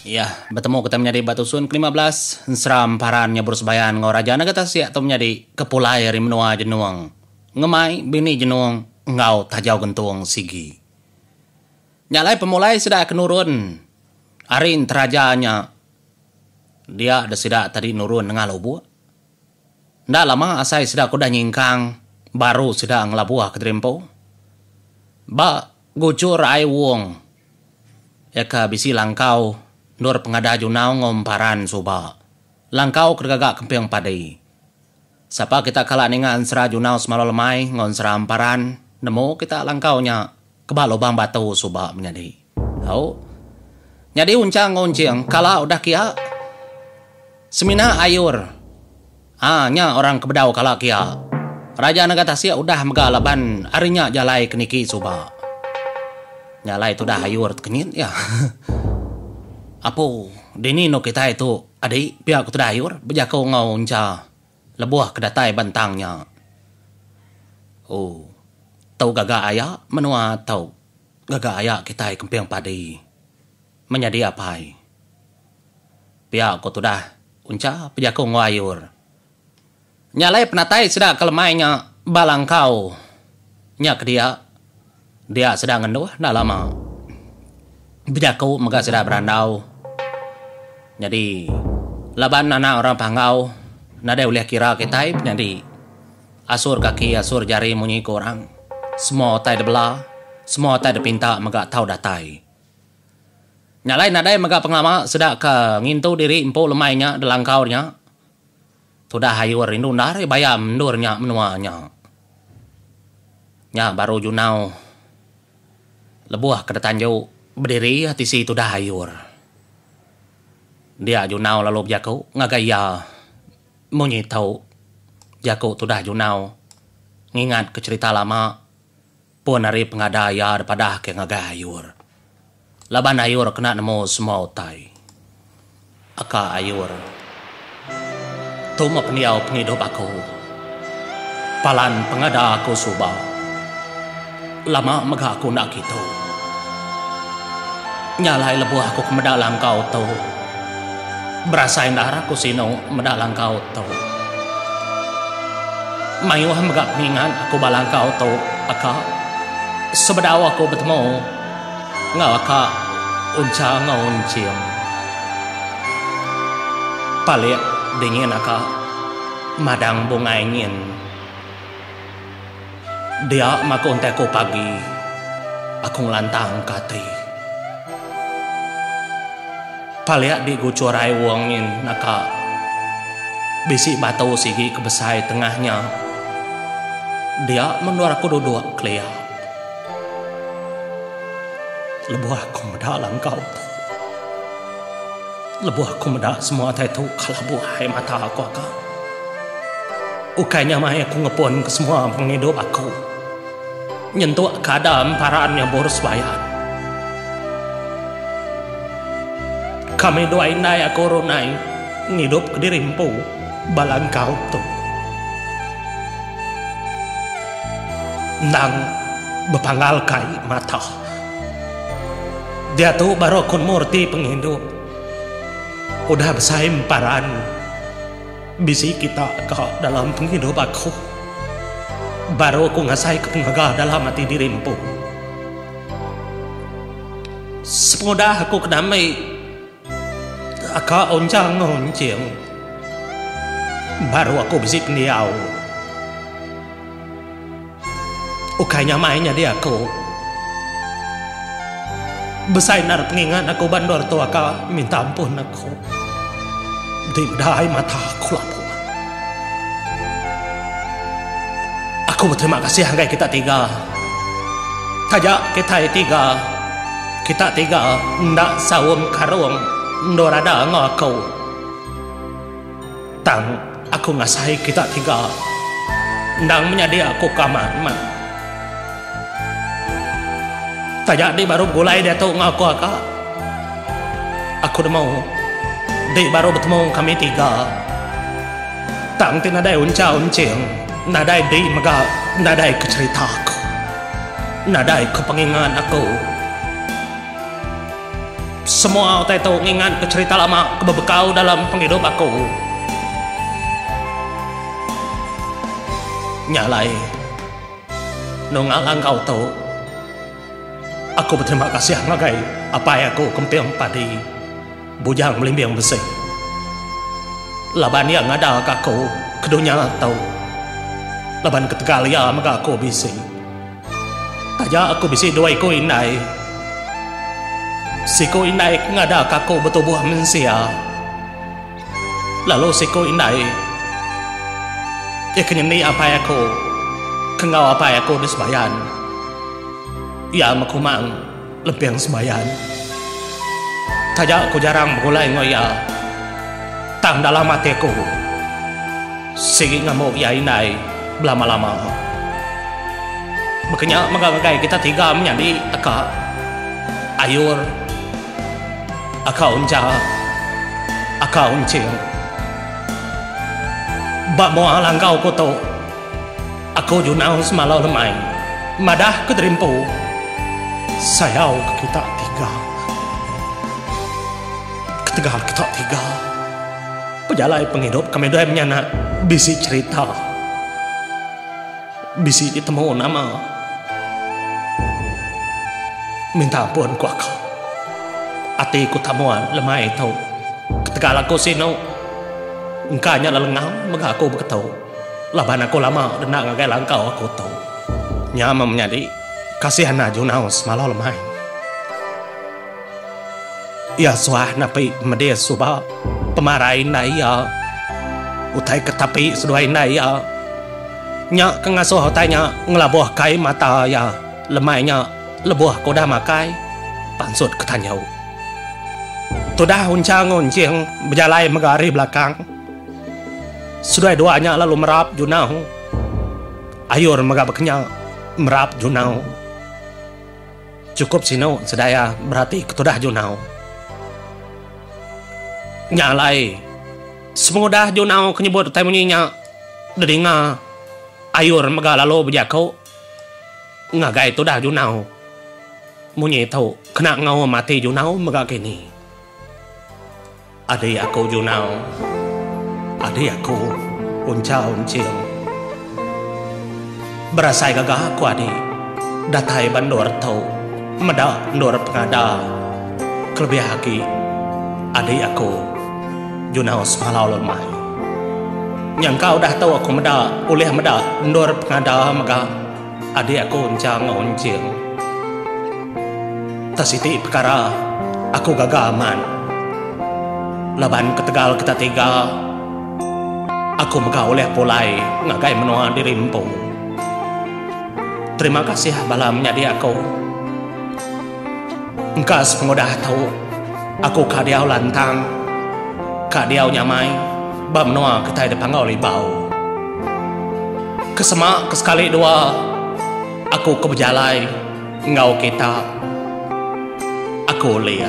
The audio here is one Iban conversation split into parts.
Iya betemu Ketai Menyadi ba Tusun kelima belas, ensera emparan nyebur sebayan enggau Raja Nega Tasik tu menyadi ke pulai ari menua Jenung ngemai bini Jenung enggau Tajau Gentung sigi. Nya alai pemulai sida ke nurun ari enteraja nya dia da sida tadi nurun nengah lubuk. Enda lama asai sida ke udah nyingkang baru sida ngelabuh kediri empu. Ba Guchur ai Wong iya ke bisi langkau endur pengadah Junau enggau Emparan suba. Langkau ke digaga kemping padi. Sapa kita kala ninga ensera Junau semalu lemai enggau ensera Emparan nemu kita langkau nya. Ke ba lubang batu suba menyadi. Au. Nyadi unchang enggau enching kala udah kia. Semina ayur. Ha nya orang ke bedau kala kia. Raja nega tasik udah mega laban ari nya jalai ke niki suba. Nya alai tudah ayur tu kenyit iya. Apu, dini endur kitai tu adi pia ke tudah ayur bejako enggau encha. Lebuh ke datai ba entang nya. Ooh. Tu gaga aya menua tu. Gaga aya kitai kemping padi. Menyadi apai. Pia ko tudah uncha pejaku enggau ayur. Nya alai penatai sida ke lemai nya ba langkau nya ke dia. Dia sedar ngenduh enda lama bejaku mega sida berandau. Nyadi laban anak orang Panggau nadai ulih kira kitai penyadi asur kaki asur jari munyi ku orang. Semua utai dibela, semua utai dipinta mega tau datai. Nya alai nadai mega pengelama sida ke ngintu diri empu lemai nya delangkau nya. Tudah ayu rindu enda ari bayam endur nya menua nya. Nya baru junau lebuh ke detanju bediri iya tisi tudah ayu. Dia junau lalu bejaku ngagai iya munyi tau jaku tudah junau ngingat ke cerita lama. Pun ari pengada iya dipadahka ngagai Ayur. Laban Ayur kena nemu semua utai. Aka Ayur. Tu meh pendiau pengidup aku. Palan pengada aku suba. Lama mega aku enda kitu. Nya alai lebuh aku ke meda langkau tu. Berasai enda arah ku sinu meda langkau tu. Mayuh mega pengingat aku ba langkau tu, aka. Sebedau aku betemu enggau aka Uncha enggau Unching. Palik dingin aka madang bungai ngin. Dia maku entai ku pagi, aku ngelantang ka ati. Palik di guchur ai wong nyin naka bisi batu sigi ke besai tengah nya. Dia mendur aku duduk kelia. Lebuh aku meda langkau tu. Lebuh aku meda semua utai tu kelabuh ai mata aku aka. Ukai nya mai aku ngepunka semua pengidup aku nyentuk ke ada emparan nyabur sebayang. Kami dua indai aku runai ngidup kediri empu bala engkau tu. Endang bepanggalka ai mata. Diatu baru aku nemu reti pengidup. Udah besai emparan bisi kita ka dalam pengidup aku. Baru aku ngasaika pengaga dalam ati diri empu. Sepengudah aku ke dami. Ka onchang onching baru aku bisi pendiau. Ukai nyamai nyadi aku. Besai endar pengingat aku ba endur tu ka minta ampun aku. Ti udah ai mata aku lapu. Aku beterima kasih ngagai kita tiga. Taja kitai tiga. Kita tiga enda saum karung endur ada enggau aku. Tang aku ngasai kita tiga endang menyadi aku ke amat meh. Taja dih baru begulai diatu enggau aku ka. Aku nemu dih baru betemu kami tiga. Tang ti nadai uncha unching nadai dih mega nadai ke cherita aku. Nadai ke pengingat aku. Semua utai tu ngingat ke cherita lama ke bebekau dalam pengidup aku. Nya alai, nunga langkau tu, aku beterima kasih ngagai apai aku ke emping padi. Bujang Belimbing Besi. Laban iya ngadaka aku ke dunya tu. Laban ketegal iya mega aku bisi. Taja aku bisi dua iku indai. Siku indai ke ngadaka aku betubuh mensia. Lalu siku indai iya ke nyendi apai aku ke enggau apai aku di Sebayan. Iya mekumang. Lempeng sembayan. Taja aku jarang begulai enggau iya, tang dalam ati aku sigi ngembu iya indai belama-lama. Baka nya mega ngagai kita tiga menyadi teka Ayur, Aka Uncha, Aka Unching. Ba mua langkau aku tu. Aku Junau semalau lemai madah ke diri empu sayau ke kita tiga. Ketegal kita tiga pejalai pengidup kami dua menyanak bisi cerita bisi ditemu nama minta ampun ku aku ati ku tamuan lemai tu ketegal aku sinu engka nya lelengau mega aku beketu. Laban aku lama denda ngagai langkau aku tu. Nya meh menyadi kasih enda junau semalau lemai. Iya suah napi medis suba pemarai indai iya. Utai ke tapi seduai indai iya. Nya ke ngasuh utai nya ngelabuh kai mata iya lemai nya lebuh ke udah makai, pansut ke tanjau. Tudah Unchang Unching bejalai mega ari belakang. Seduai dua nya lalu merap junau. Ayur mega bekenya merap junau. Chukup sinu sedaya berati ke tudah junau. Nya alai, sepengudah junau ke nyebut utai munyi nya didinga, Ayur mega lalu bejaku ngagai tudah junau munyi tu kena ngaum ati junau mega kini. Adi aku Junau, adi aku Unchau Enching. Berasai gaga aku adi datai ba endur tu meda endur pengada kelebih agi adi aku Junau Semalau Lemai. Nyangka udah tu aku meda ulih meda endur pengada mega. Adik aku enchang onching. Tah siti pekara aku gaga amat laban ketegal kita tiga aku mega ulih pulai ngagai menua diri empu. Terima kasih bala menyadi aku. Engka sepengudah tu, aku ka diau lantang, ka diau nyamai ba menua kitai dipanggau Libau. Ke sema ke sekali dua aku ke bejalai enggau kita, aku ulih.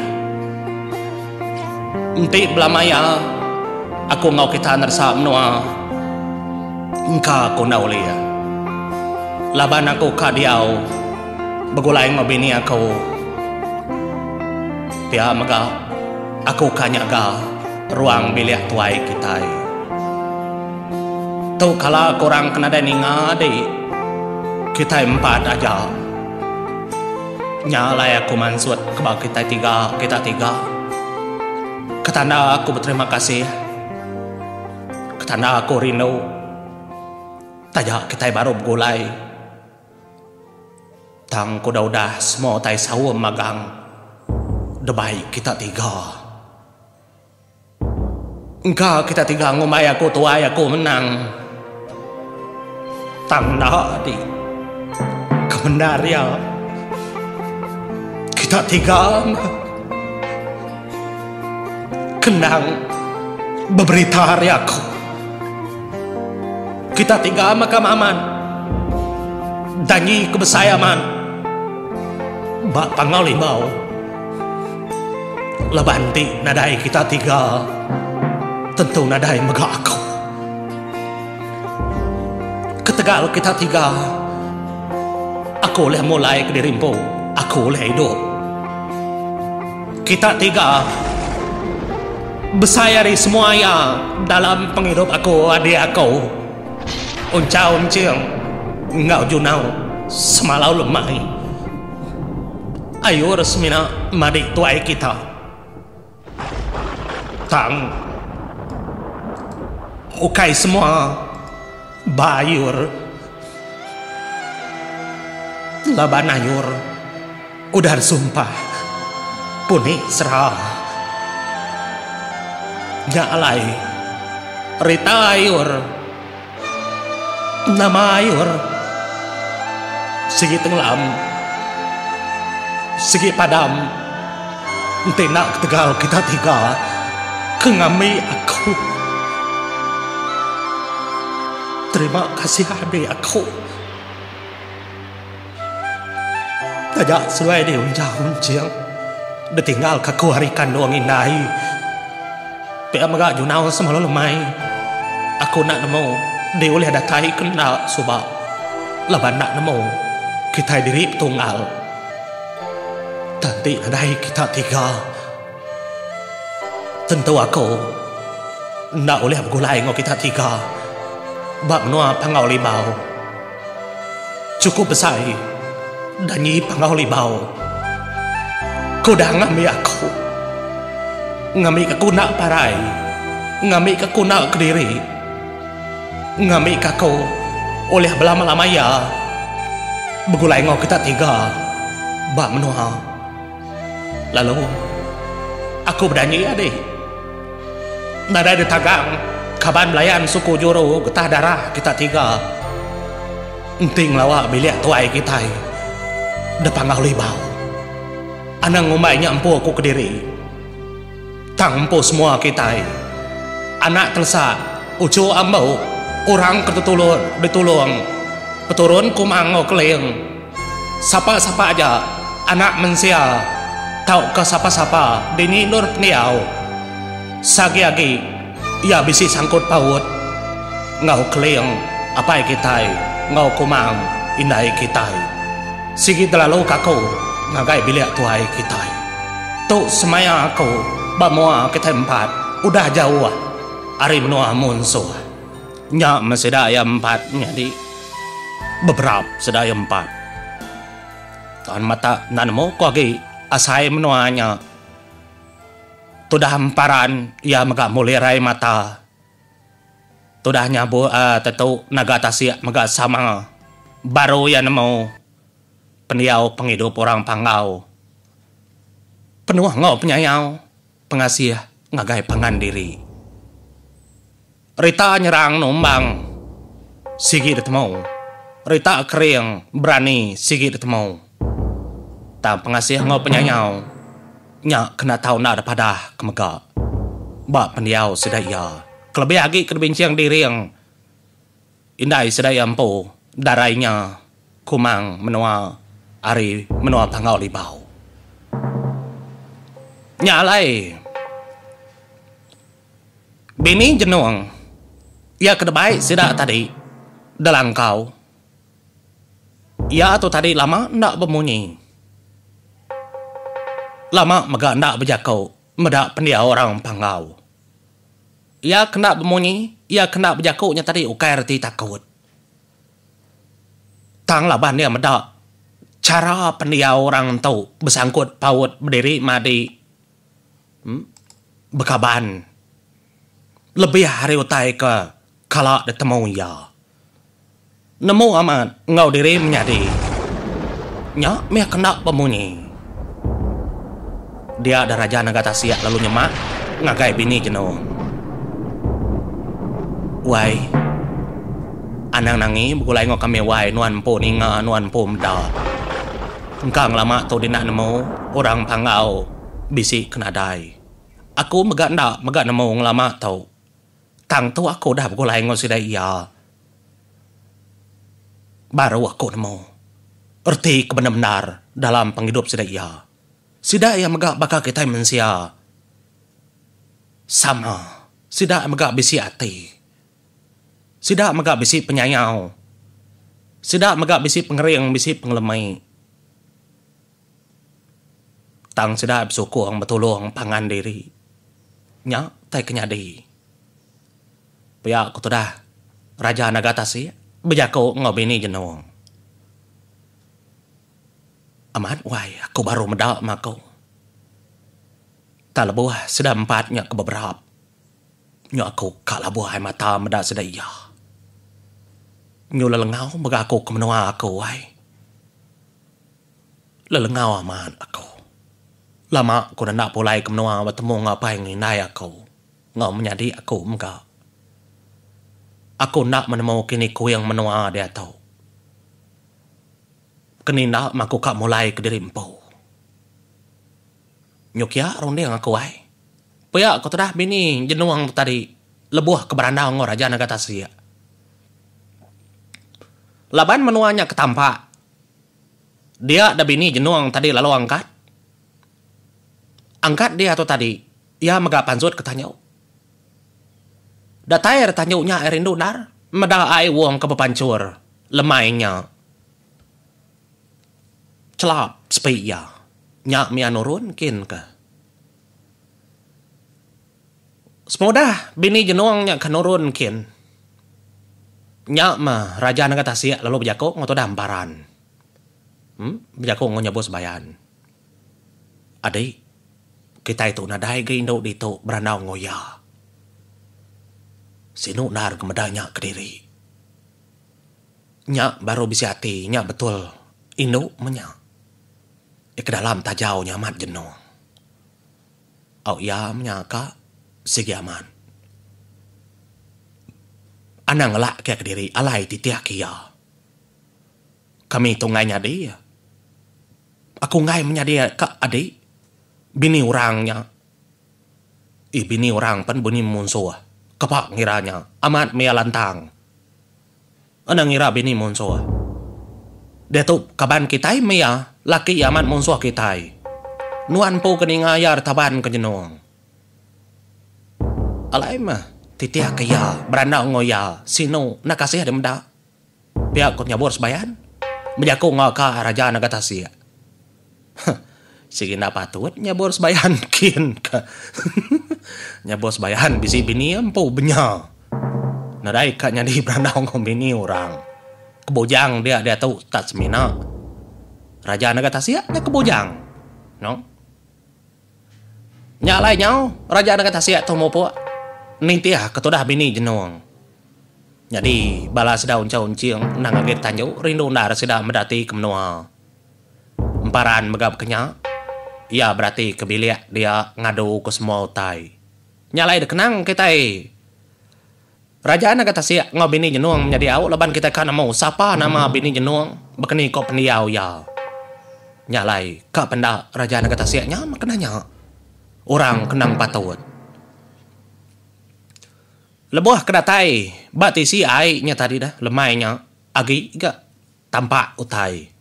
Enti belama iya, aku enggau kita neresa menua engka aku enda ulih laban aku ka diau. Begulai enggau bini aku. Pia mega, aku ka nyaga ruang bilik tuai kitai. Tu kala korang ke nadai ninga adi, kitai empat aja. Nya alai aku mansut ke ba kitai tiga, kita tiga. Ke tanda aku beterima kasih. Ke tanda aku rindu. Taja kitai baru begulai. Tang ku udah udah semua utai saum magang debai kita tiga. Engka kita tiga ngumbai aku tuai aku menang. Tang enda adi kemendar iya kita tiga meh kendang beberita ari aku. Kita tinggal makam aman. Dangi ke besai aman ba pangau limau. Laban ti nadai kita tiga tentu nadai mega aku. Ketegal kita tiga aku ulih mulai kediri empu aku ulih idup. Kita tiga besai ari semua iya dalam pengidup aku adik aku Unchau Enching enggau Junau semalau lemai ayur semina madik tuai kita tang ukai semua Bayur. Laban ayur udah disumpah puni sera. Nya alai rita ayur. Nama ayur sigi tenglam sigi padam. Enti enda ketegal kita tiga ke ngambi aku. Terima kasih adik aku. Taja sulai di unjau unjing ditinggalka aku ari kandung indai. Pia mega junau semalu lemai aku enda nemu diulih datai ke enda suba laban enda nemu kitai diri betunggal. Tadi nadai kita tiga, tentu aku enda ulih begulai enggau kita tiga ba menua Panggau Libau. Chukup besai danyi Panggau Libau ke udah ngambi aku, ngambika ku enda parai, ngambika ku enda kediri. Ngambika aku ulih belama-lama iya begulai enggau kita tiga ba menua. Lalu aku bedanji adi, nadai ditagang kaban belayan suku juru getah darah kita tiga enti ngelawa bilik tuai kitai da Panggau Libau. Anang ngumbai nya empu aku kediri. Tang empu semua kitai, anak telesa, uchu ambu, orang ke tetulung ditulung peturun Kuma Ango Keling, sapa-sapa aja anak mensia tauka sapa-sapa dini endur pendiau, seagi-agi. Iya bisi sangkut paut enggau keling apai kitai enggau kumang indai kitai. Sigi telaluka aku ngagai bilik tuai kitai. Tu semaya aku ba mua kitai empat udah jauh ari menua munsuh. Nya meh sida iya empat nyadi beberap sida iya empat. Tan mata enda nemu ku agi asai menua nya. Tudah emparan iya mega mulirai mata. Tudah nyabuk aa tetu naga tasik mega sama. Baru iya nemu pendiau pengidup orang Panggau penuh enggau penyayau, pengasih ngagai pangan diri. Rita nyerang numbang sigi ditemu. Rita kering berani sigi ditemu. Tang pengasih enggau penyayau nya kena tau enda ada padah ke mega ba pendiau sida iya kelebih agi ke dibincing diring. Indai sedia empu darai nya kumang menua ari menua Panggau Libau. Nya alai bini jenung iya ke debai sida tadi Delangkau iya tu tadi lama enda bemunyi lama mega enda bejaku. Meda pendiau orang Panggau. Iya kena bemunyi, iya kena bejaku nya tadi ukai reti takut. Tang laban iya meda chara pendiau orang ento besangkut paut bediri madi bekaban lebih ari utai ke kala ditemu iya. Nemu amat enggau diri menyadi. Nya mih kena bemunyi. Dia dah raja naga tasik lalu nyemak ngagai bini jenung. Wai. Anang Nangi begulai enggau kami wai nuan empu ninga nuan empu meda. Engka ngelama tu dina nemu orang panggau bisi ke nadai. Aku mega enda mega nemu ngelama tu. Tang tu aku udah begulai enggau sida iya baru aku nemu reti ke bendar-bendar dalam pengidup sida iya. Sida iya mega baka kitai mensia sama. Sida mega bisi ati. Sida mega bisi penyayau. Sida mega bisi pengering, bisi pengelemi. Tang sida besukung betulung pangan diri nya tai ke nyadi. Pia ku tudah Raja Naga Tasik bejaku enggau bini Jenong. Amat wai aku baru meda mah ko. Tang lebuh sida empat nya ke beberap nyu aku ka labuh ai mata meda sida iya. Nyu lelengau mega aku ke menua aku ai. Lelengau amat aku. Lama aku enda pulai ke menua betemu enggau apai enggau indai aku enggau menyadi aku mega. Aku enda menemu kini kuing menua diatu. Keni enda meh aku ka mulai kediri empu. Nyokia runding aku ai. Pia ku tudah bini jenung tu tadi lebuh ke berandau enggau Raja Naga Tasik. Laban menua nya ke tampak. Dia da bini jenung tadi lalu angkat. Angkat dia tu tadi, iya mega pansut ke tanyu. Datai ari tanyu nya ai rindu endar, meda ai wong ke bepanchur lemai nya chelap sepi iya. Nya mih iya nurun kin ka. Semudah bini jenung nya ke nurun kin, nya mah raja nengah tasik lalu bejaku enggau tudah emparan. Em, bejaku enggau nyebu sembayan. Adi, kitai tu nadai ga indu ditu berandau enggau iya. Sinu endar ngemeda nya kediri. Nya baru bisi ati, nya betul indu meh nya. Nya ke dalam taja nya amat jenung. Au iya menya ka sigi amat. Anang ngelakke kediri alai titih ke iya. Kami tu enggai nyadi. Aku enggai menyadi ka adi bini orang nya. Ih bini orang pen bunyi munsuh. Kapa ngira nya amat mia lantang. Enda ngira bini munsuh. Diatu kaban kitai meh iya, laki iya amat munsuh kitai. Nuan empu ke ninga iya retaban ke nyenung. Alai meh titih ke iya berandau enggau iya sinu enda kasih deh meda. Pia ku Nyabur Sebayan bejaku enggau ka Raja Naga Tasik. Huh. Sigi enda patut nyabor sebayan kin ka. Nyabor sebayan bisi bini empu benya. Nadai ka nyadi berandau enggau bini orang. Ke bujang dia diatu tak semina. Raja enda ga tasik nya ke bujang. Noo. Nya alai nyau raja enda ga tasik tu mupuk nitih ke tudah bini jenung. Nyadi bala sida unchau unching endang agi ditanju rindu endar sida meda ati ke menua. Emparan mega bekenya, iya berati ke bilik dia ngadu ke semua utai. Nya alai dikenang kitai. Raja Naga Tasik enggau Bini Jenong menyadi au laban kitai ka nemu sapa nama Bini Jenong bekeni ko pendiau iya. Nya alai ka penda Raja Naga Tasik nya meh kena nya. Orang ke endang patut. Lebuh ke datai ba tisi ai nya tadi dah lemai nya agi ga. Tampak utai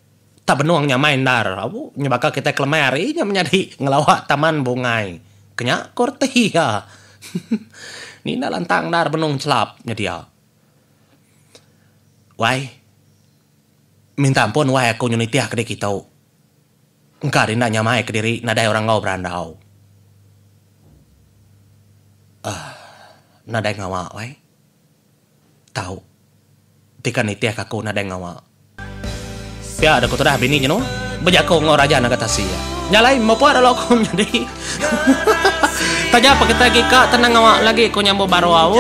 tak benung nyamai endar au nyebaka kitai kelemai ari nya menyadi ngelawa taman bungai ke nya, ku reti iya. Ni enda lantang endar benung chelap nyedia. Wai, minta ampun wai aku nyu nitih ke dikitu. Engka denda nyamai kediri nadai orang enggau berandau. Aah, nadai ngawa wai. tau deka nitihka aku nadai ngawa. Pia deka tudah bini jenu bejaku enggau raja naga tasi iya. Nya alai mepa lalu aku nyadi. Taja pa kitai agi ka tenang ngawa lagi ku nyambu baru au.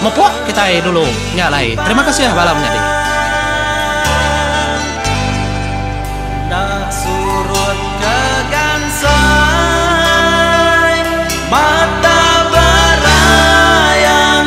Mepa kitai dulu nya alai. Terima kasih bala menyadi. Enda surut ke gansai mata berayang.